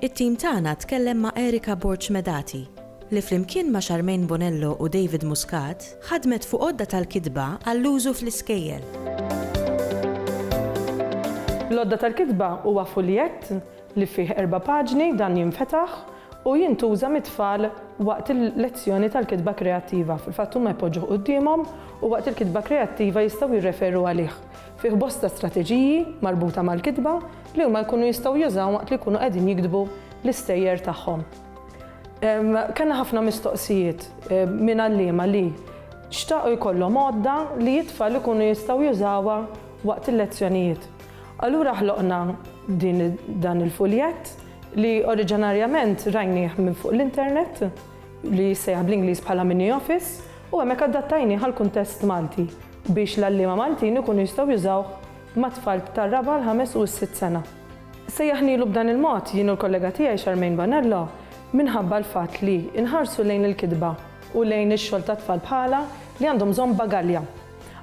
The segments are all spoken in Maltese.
It-tim tagħna tkellem ma' Erika Borg Medati, li flimkien ma' Charmaine Bonello u David Muscat ħadmet fuq għodda tal-kitba għall-użu fl-iskejjel. L-għodda tal-kitba huwa fuljett li fih erba' paġni, dan jinfetaħ u jintuża mit-tfal waqt il-lezzjoni tal-kitba kreattiva. Fil-fatt huma jpoġġuh quddiemhom u waqt il-kitba kreattiva jistgħu jirreferu għalih. Fih bosta strateġiji marbuta mal-kitba li huma jkunu jistgħu jużaw waqt li jkunu qegħdin jiktbu l-istejjer tagħhom. Kellna ħafna mistoqsijiet minn għalliema li xtaqu jkollhom għodda li t-tfal ikunu jistgħu jużawha waqt il-lezzjonijiet. Allura ħloqna dan il-fuljett li oriġinarjament rajnieh minn fuq l-internet. li jissejjaħ bl-Ingliż bħala mini office u hemmhekk adattajnieh għall-kuntest Malti biex l-għalliema Maltin ikunu jistgħu jużawh mat-tfal tar-raba', l-ħames u s-sitt sena. Sejjaħnielu b'dan il-mod jien u l-kollega tiegħi Charmaine Bonello minħabba l-fatt li nħarsu lejn il-kitba u lejn ix-xogħol ta' tfal bħalha li għandhom bżonn bagalja.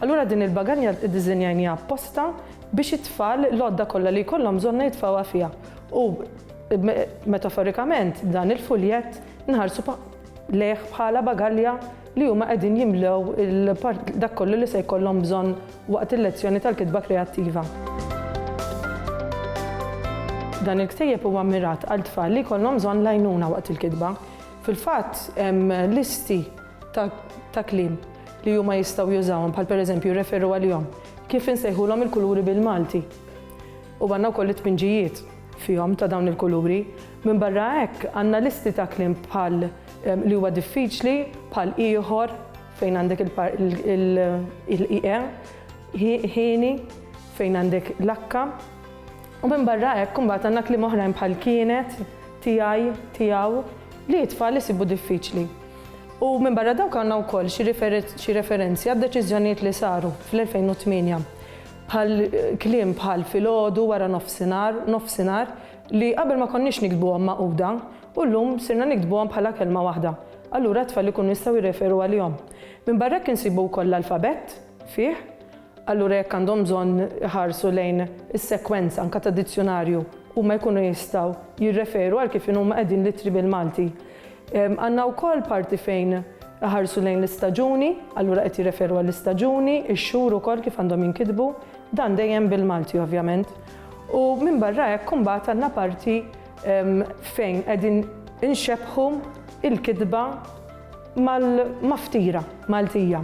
Allura din il-bagalja iddiżinjajniha apposta biex it-tfal l-għodda kollha li jkollhom bżonnha jitfgħuha fiha U metaforikament dan il-fuljett nħarsu lejh bħala bagalja li huma qegħdin jimlew dak kollu li se jkollhom bżonn waqt il-lezzjoni tal-kitba kreattiva. Dan il-ktejjeb huwa mmirat għal tfal li jkollhom bżonn l-għajnuna waqt il-kitba. Fil-fatt hemm listi ta' kliem li huma jistgħu jużawhom bħal pereżempju jirreferu għalihom kif insejħulhom il-kuluri bil-Malti. U għandna wkoll it-tpinġijiet fihom ta' dawn il-kuluri. Minbarra hekk, għandna listi ta' kliem bħal li huwa diffiċli, bħal ieħor, fejn għandek il-ie, hieni, fejn għandek l-akka. U minbarra hekk imbagħad għandna kliem oħrajn bħal kienet, tiegħi, tiegħu, li t-tfal isibu diffiċli. U minbarra dawk għandna wkoll xi referenzi għad-deċiżjonijiet li saru fl-2008. Bħal kliem bħal filgħodu, wara nofsinhar, nofsinhar, li qabel ma konniex niktbuhom magħquda, u llum sirna niktbuhom bħala kelma waħda. Allura t-tfal ikunu jistgħu jirreferu għalihom. Minbarra hekk insibu wkoll l-alfabett fih, allura jekk għandhom bżonn iħarsu lejn is-sekwenza anke tad-dizzjunarju, huma jkunu jistgħu jirreferu għal kif inhuma qegħdin l-ittri bil-Malti. Għandna wkoll parti fejn iħarsu lejn l-istaġuni, allura qed jirreferu għall-istaġuni, ix-xhur ukoll kif għandhom jinkitbu, dan dejjem bil-Malti ovvjament. U minbarra hekk imbagħad għandna parti fejn qegħdin inxebbħu l-kitba mal-maftira Maltija.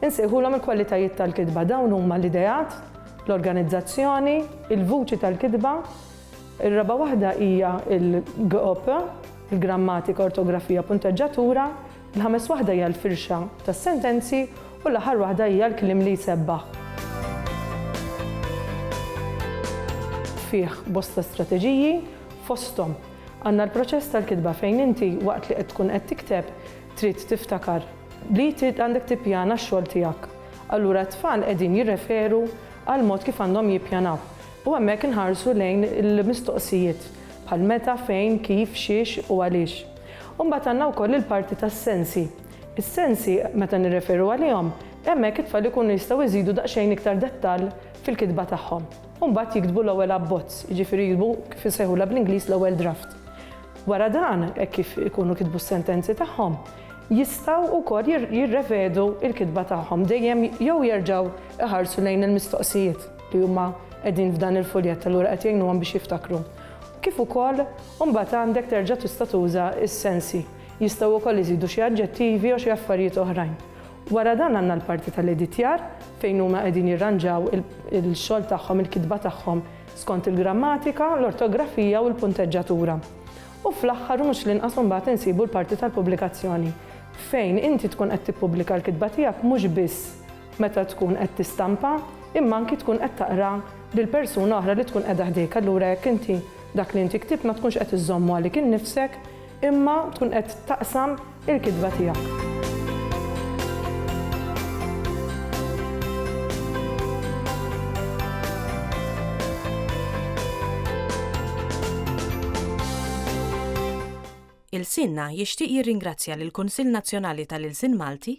Insejħulhom il-kwalitajiet tal-kitba. Dawn huma l-ideat, l-organizzazzjoni, il-vuċi tal-kitba, ir-raba' waħda hija l-GOP, il-grammatika, ortografija, punteġġatura, il-ħames waħda hija l-firxa tas-sentenzi u l-aħħar waħda hija l-kliem li jsebbaħ. Fih bosta strateġiji, fosthom għandna l-proċess tal-kitba fejn inti waqt li qed tkun qed tikteb trid tiftakar li trid għandek tippjana x-xogħol tiegħek. Allura t-tfal qegħdin jirreferu għall-mod kif għandhom jippjanaw. U hemmhekk inħarsu lejn il-mistoqsijiet bħal meta, fejn, kif, xiex u għaliex. U mbagħad għandna wkoll il-parti tas-sensi. Is-sensi, meta nirreferu għalihom, hemmhekk it-tfal ikunu jistgħu jżidu daqsxejn iktar dettall fil-kitba tagħhom. U mbagħad jiktbu l-ewwel abbozz, jiġifieri jiktbu kif insejħulha bl-Ingliż l-ewwel draft. Wara dan, hekk kif ikunu kitbu s-sentenzi tagħhom, jistgħu wkoll jirrevedu l-kitba tagħhom, dejjem jew jerġgħu jħarsu lejn il-mistoqsijiet. li huma qegħdin f'dan il-fuljett allura qed jgħinuhom biex jiftakru. Kif ukoll imbagħad għandek terġa' tista' tuża s-sensi. Jistgħu wkoll iżidu xi aġġettivi jew xi affarijiet oħrajn. Wara dan għandna l-parti tal-editjar fejn huma qegħdin jirranġaw il-xogħol tagħhom, il-kitba tagħhom skont il-grammatika, l-ortografija u l-punteġġatura. U fl-aħħar u mhux l-inqas imbagħad insibu l-parti tal-pubblikazzjoni fejn inti tkun qed tippubblika l-kitba tiegħek mhux biss meta tkun qed tistampa, imma anki tkun qed taqra lil persuna oħra li tkun qiegħda ħdejk. Allura jekk inti dak li inti ktibt ma tkunx qed iżżommu għalik innifsek, imma tkun qed taqsam il-kitba tiegħek. Ilsienna jixtieq jirringrazzja lill-Kunsill Nazzjonali tal-Ilsien Malti,